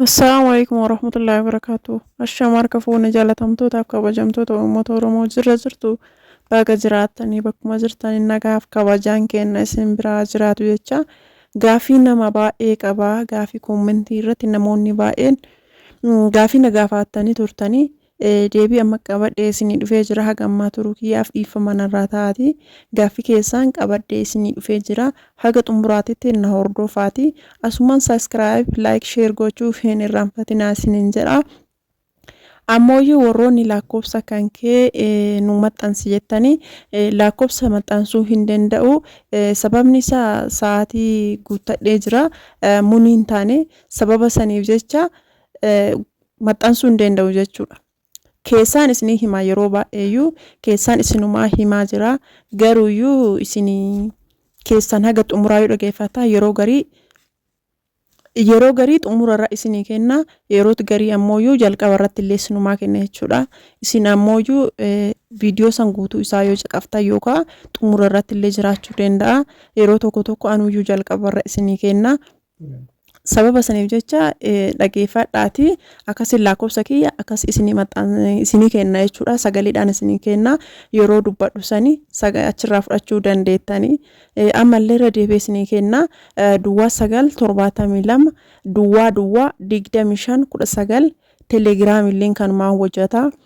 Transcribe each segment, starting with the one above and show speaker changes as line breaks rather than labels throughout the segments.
Assalaamu alaikum warahmatullahi wabarakatuh. Ashaam harka fuune jaalatamtootaaf kabajamtoota uummata Oromoo jirra jirtu baga jiraattanii bakkuma jirtan nagaaf kabajaan keenna isin biraa jiraatu jecha gaafii nama baay'ee qaba gaafii koommentii irratti namoonni baay'een mm, gaafii na gaafaattanii turtanii Deebii amma qabadhee isinii dhufee jira haga ammaa turuu kiyyaaf dhiiffama narraa ta'aati gaaffi keessaan qabadhee isinii dhufee jira haga xumuraatitti na hordoofaati asumaan subscribe like share gochuuf hin irraanfatinaa isiniin jedha ammooyyuu warroonni lakkoofsa kan kee nu maxxansi jettanii lakkoofsa maxxansuu hin danda'u sababni isaa sa'aatii guuttadhee jira munii hin taane sababa saniif jecha maxxansuu hin deenda'u jechuudha. Keessaan isinii himaa yeroo baay'eeyyuu keessaan isinumaa himaa jira garuuyyuu isinii keessaan haga xumuraa yoo dhageeffataa yeroo garii yeroo garii xumura irraa isinii kenna yerooti garii ammooyyuu jalqaba irratti illee isinumaa kenna jechuudha. Isin ammooyyuu viidiyoo san guutuu isaa yoo caqaftan yookaan xumura irratti illee jiraachuu danda'a. Yeroo tokko tokko anuyyuu jalqaba irra isinii kenna. Sababa saniif jecha dhageeffadhaatii akkasiin lakkoofsa kiyya akkas isinii maxxan- isinii kenna jechuudha. Sagaleedhaan isinii kenna. Yeroo dubbadhu sani saga- achirraa fudhachuu dandeettanii. Eh, Ammallee irra deebi'ee isinii kenna. Eh, Duwwaa sagal torbaatamii lama duwwaa duwwaa digdamii shan kudha sagal telegiraamilleen kanumaan hojjeta.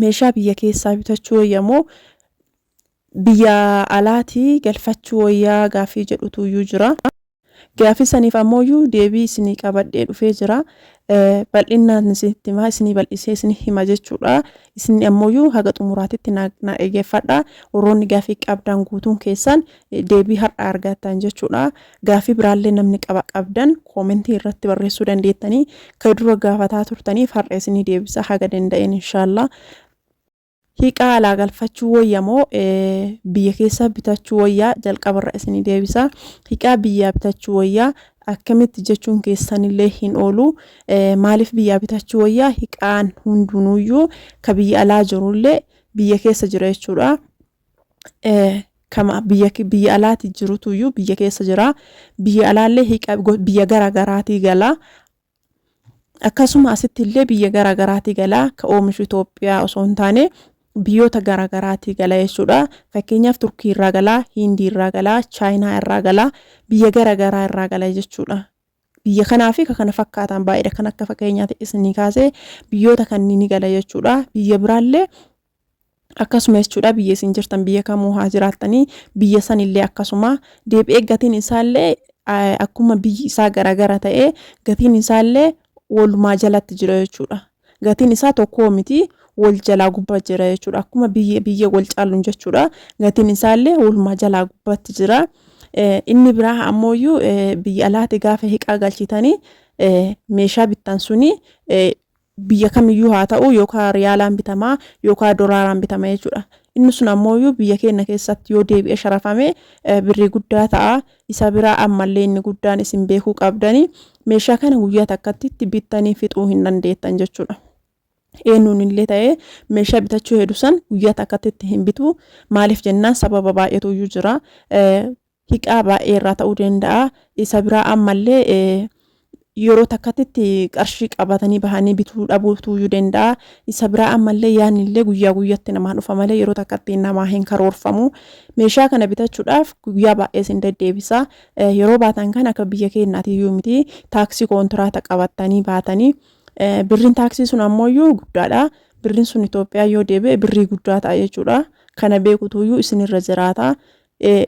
meeshaa biyya keessaa bitachuu wayya moo biyya alaatii galfachuu wayyaa gaafii jedhutu iyyuu jira. Gaafii saniif ammoo iyyuu deebii isinii qabadhee dhufee jira. Bal'innaan isinitti himaa isinii bal'isee isinii hima jechuudha. Isinni ammoo iyyuu haga xumuraatitti na dhageeffadha. Warroonni gaafii qabdaan guutuun keessan deebii har'a argattan jechuudha. Gaaffii biraallee namni qaba qabdan koomentii irratti barreessuu dandeettanii ka dura gaafataa turtaniif har'a isinii deebisa haga danda'een inshaallaa. Hiiqaa alaa galfachuu wayya moo biyya keessaa bitachuu wayyaa jalqabarra isinii deebisa. Hiiqaa biyyaa bitachuu wayyaa akkamitti jechuun keessanillee hin oolu. Maaliif biyyaa bitachuu wayyaa hiiqaan hundunuyyuu ka biyya alaa jirullee biyya keessa jira jechuudha. kama biyya biyya alaati jirutu iyyuu biyya keessa jira biyya alaallee hiqa biyya gara garaatii gala akkasuma asitti illee biyya gara garaatii gala ka oomishu Itoophiyaa osoo hin taane biyyoota gara garaatii gala jechuudha fakkeenyaaf turkii irraa gala hindii irraa gala chaayinaa irraa gala biyya gara garaa irraa gala jechuudha biyya kanaa fi kana fakkaatan baay'eedha kan akka fakkeenyaati isinii kaasee biyyoota kanneen gala jechuudha biyya biraallee Akkasuma jechuudha biyya isin jirtan biyya kamuu haa jiraattanii biyya san illee akkasuma deebi'ee gatiin isaa illee akkuma biyyi isaa garaagara ta'ee gatiin isaa illee walumaa jalatti jira jechuudha. Gatiin isaa tokkoo miti wal jalaa gubbaa jira jechuudha. Akkuma biyya biyya wal caaluun jechuudha. Gatiin isaa illee walumaa jalaa gubbaatti jira. Inni biraa ammoo iyyuu biyya alaati gaafa hiqaa galchitanii meeshaa bittan suni biyya kamiyyuu haa ta'uu yookaa riyaalaan bitama yookaa dolaaraan bitama jechuudha. Inni sun ammooyyuu biyya keenna keessatti yoo deebi'e sharafame birrii guddaa ta'a. Isa biraa ammallee inni guddaan isin beekuu qabdani meeshaa kana guyyaa takkattitti bittanii fixuu hin dandeettan jechuudha. Eennuun illee ta'ee meeshaa bitachuu hedu san guyyaa takkattitti hin bitu. Maaliif jennaan sababa baay'eetuyyuu jira. hiqaa baay'ee irraa ta'uu danda'a. Isa biraa ammallee yeroo takkatti qarshii qabatanii bahanii bituu dhabuutu iyyuu danda'a. Isa biraa ammallee yaanillee guyyaa guyyatti namaa dhufa malee yeroo takkatti namaa hin karoorfamu. Meeshaa kana bitachuudhaaf guyyaa baay'ee isin deddeebisa. Yeroo baatan kan akka biyya keenyaati iyyuu miti taaksii kontiraata qabattanii baatanii birriin taaksii sun ammoo iyyuu guddaadha. Birriin sun Itoophiyaa yoo deebi'e birrii guddaa ta'a jechuudha. Kana beekutu iyyuu isinirra jiraata.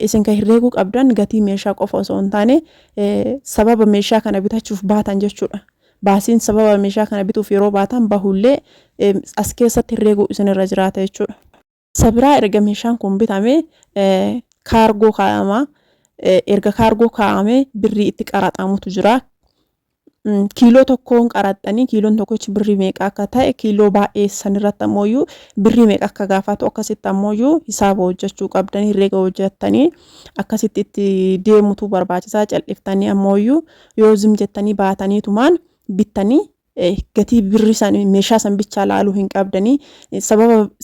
Isin kan herreeguu qabdan gatii meeshaa qofa osoo hin taane sababa meeshaa kana bitachuuf baatan jechuudha. Baasiin sababa meeshaa kana bituuf yeroo baatan bahullee as keessatti herreeguu isinirra jiraata jechuudha. Sabiraa erga meeshaan kun bitame kaargoo kaa'ama. Erga kaargoo kaa'ame birrii itti qaraxamutu jira. kiiloo tokkoon qaraxxanii kiiloon tokkochi birrii meeqa akka ta'e kiiloo baay'ee sanirratti ammoo birrii meeqa akka gaafatu akkasitti ammoo hisaaba hojjechuu qabdan herreega hojjettanii akkasitti itti deemutu barbaachisaa cal'iftanii ammoo yoo zim jettanii baatanii tumaan bittanii gatii birrii san meeshaa san bichaa laaluu hin qabdanii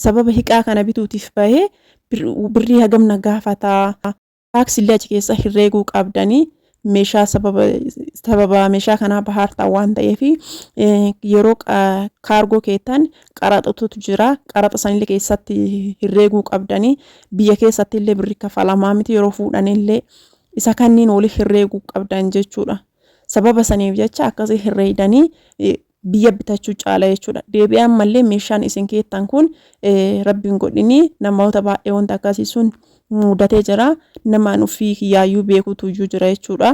sababa hiqaa kana bituutiif bahee birrii hagamna gaafataa Tax illee achi keessa hirreeguu qabdanii meeshaa sababa sababa meeshaa kanaa bahaartaa waan ta'eef yeroo kaargoo keetan qaraxatu jira qaraxa sanillee keessatti hirreeguu qabdanii biyya keessatti illee birri kafalamaa miti yeroo fuudhan illee isa kanniin waliif hirreeguu qabdan jechuudha sababa saniif jecha akkasii hirreeydanii biyya bitachuu caala jechuudha deebi'aa ammallee meeshaan isin keettan kun rabbiin godhinii namoota baay'ee wanta akkasii sun mudatee jira namaan ofii kiyyaayyuu beekuutu iyyuu jira jechuudha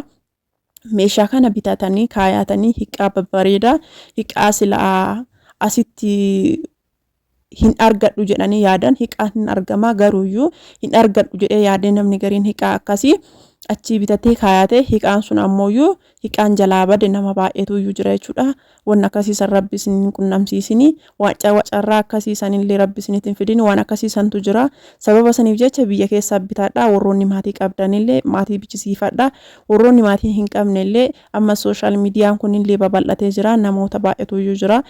meeshaa kana bitatanii kaayaatanii hiqaa babbareedaa hiqaa silaa asitti hin argadhu jedhanii yaadan hiqaan hin argamaa garuuyyuu hin argadhu jedhee yaadee namni gariin hiqaa akkasii achii bitatee kaayatee hiqaan sun ammooyyuu hiqaan jalaa bade nama baay'eetuyyuu jira jechuudha waan akkasiisan rabbi isin hin qunnamsiisini wacarraa akkasiisan illee rabbi isin hin fidini waan akkasiisantu jira sababa saniif jecha biyya keessaa bitaadha warroonni maatii qabdanillee maatii bichisiifadha warroonni maatii hin qabnellee Amma social median kunillee babal'atee jira. Namoota baay'etuyyuu jira.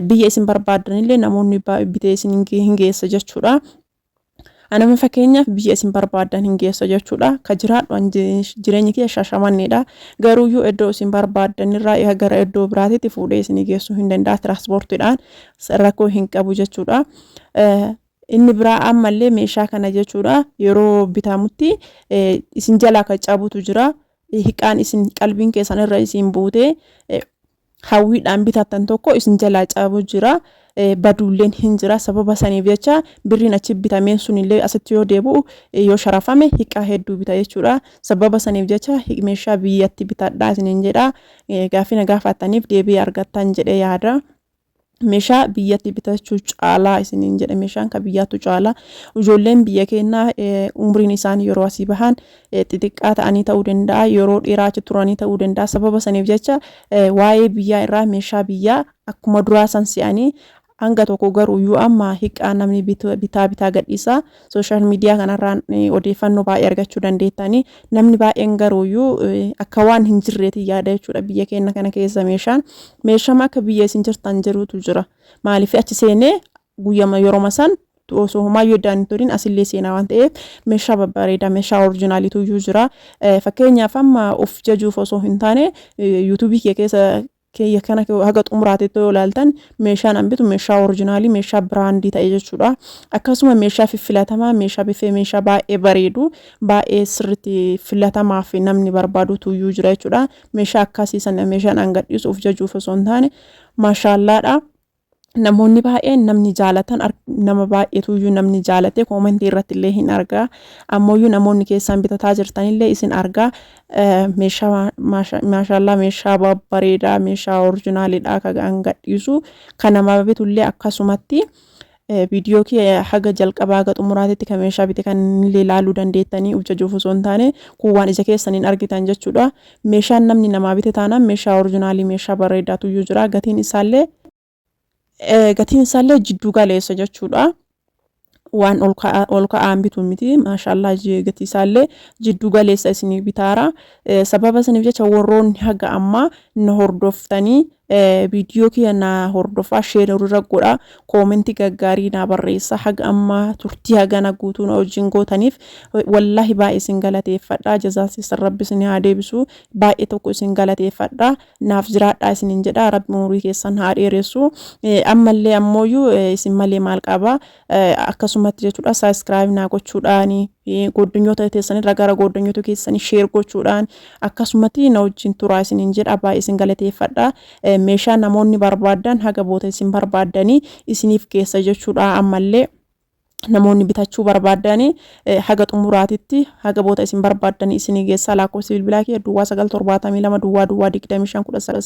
Biyya isin barbaaddanillee namoonni bitee isin hin geessa jechuudha. Anama fakkeenyaaf biyya isin barbaaddan hin geessa jechuudha. Ka jiraadhu an jireenyi kiyya shashamanneedha. Garuuyyuu iddoo isin barbaaddanirraa gara iddoo biraatitti fuudhee isin geessuu hin danda'a. Tiraanspoortiidhaan rakkoo hin qabu jechuudha. Inni biraa ammallee meeshaa kana jechuudha yeroo bitamutti isin jalaa kan cabutu jira. hiqaan isin qalbiin keessan irra isin buutee hawwiidhaan bitattan tokko isin jalaa cabu jira baduulleen hin jira sababa saniif jecha birriin achi bitameen sunillee asitti yoo deebi'u yoo sharafame hiqaa hedduu bita jechuudha sababa saniif jecha meeshaa biyyatti bitadhaa isiniin jedha gaafina gaafattaniif deebii argattan jedhe yaada. Meshaa biyyatti bitachuu caalaa isiniin jedhe meshaan ka biyyaattu caalaa ijoolleen biyya keenyaa umriin isaan yeroo asii bahan xixiqqaa ta'anii ta'uu danda'a yeroo dheeraa achi turanii ta'uu danda'a sababa saniif jecha waa'ee biyyaa irraa meeshaa biyyaa akkuma duraa san si'anii hanga tokko garuu yoo amma hiqqaa namni bitaa bitaa gadhiisaa Sooshaal miidiyaa kanarraan odeeffannoo baay'ee argachuu dandeettanii namni baay'een garuuyyuu akka waan hin jirreetiin yaada jechuudha biyya keenya kana keessa meeshaan meeshama akka biyya isin jirtan jirutu jira maaliif achi seenee guyyama yeroma san osoo homaayyuu iddaan hin turin asillee seenaa waan ta'eef meeshaa babbareedaa meeshaa orjinaaliitu iyyuu jira fakkeenyaaf amma of jajuuf osoo hin taane yuutuubii kee keessa keeyya kana haga xumuraateetti yoo ilaaltan meeshaan an bitu meeshaa orijinaalii meeshaa biraandii ta'e jechuudha akkasuma meeshaa fiffilatamaa meeshaa biffee meeshaa baay'ee bareedu baay'ee sirritti filatamaa fi namni barbaadu tuyyuu jira jechuudha meeshaa akkasii sana meeshaan an gadhiisu of jajuuf osoo hin taane maashaallaadha namoonni baay'een namni jaalatan nama baay'eetuyyuu namni jaalatee koomentii irratti illee hin argaa ammooyyuu namoonni keessaan bitataa jirtanillee isin argaa meeshaa maashaallaa meeshaa babbareedaa meeshaa orjinaaliidhaa kagaan gadhiisu kan nama bitullee akkasumatti viidiyoo kee haga jalqabaa haga xumuraatitti kan meeshaa bite kan illee ilaaluu dandeettanii uf jajuuf osoo hin taane kun waan ija keessaniin argitan jechuudha Meeshaan namni namaa bite taanaan meeshaa orijinaalii meeshaa bareedaatu iyyuu jira gatiin isaallee eh, gatiin isaallee jidduu galeessa jechuudha. waan ol ka'a- ol ka'aan bitu miti maashaallah je- gatii isaallee jidduu galeessa isinii bitaara Eh, sababa isiniif jecha warroonni haga ammaa na hordoftanii Viidiyoo kiyya naa hordofaa share irra godha koomentii gaggaarii naa barreessa haga amma turtii hagana guutuu na wajjin gootaniif wallaahi baay'ee isin galateeffadha jazaan keessan rabbi isin haa deebisu baay'ee tokko isin galateeffadha naaf jiraadhaa isinin jedha rabbi umurii keessan haa dheeressu ammallee ammooyyuu isin malee maal qaba akkasumatti jechuudha saabskraayib naa gochuudhaan gooddanyoota teessanirra gara gooddanyoota keessanii sheer gochuudhaan akkasumatti na wajjin turaa isiniin jedha baay'ee isin galateeffadha meeshaa namoonni barbaadan haga boota isin barbaadanii isiniif geessa jechuudha ammallee namoonni bitachuu barbaadan haga xumuraatitti haga boota isin barbaadan isinii geessaa lakkoofsi bilbilaa kee duwwaa sagal torbaatamii lama duwwaa duwwaa digdamii shan kudha sagal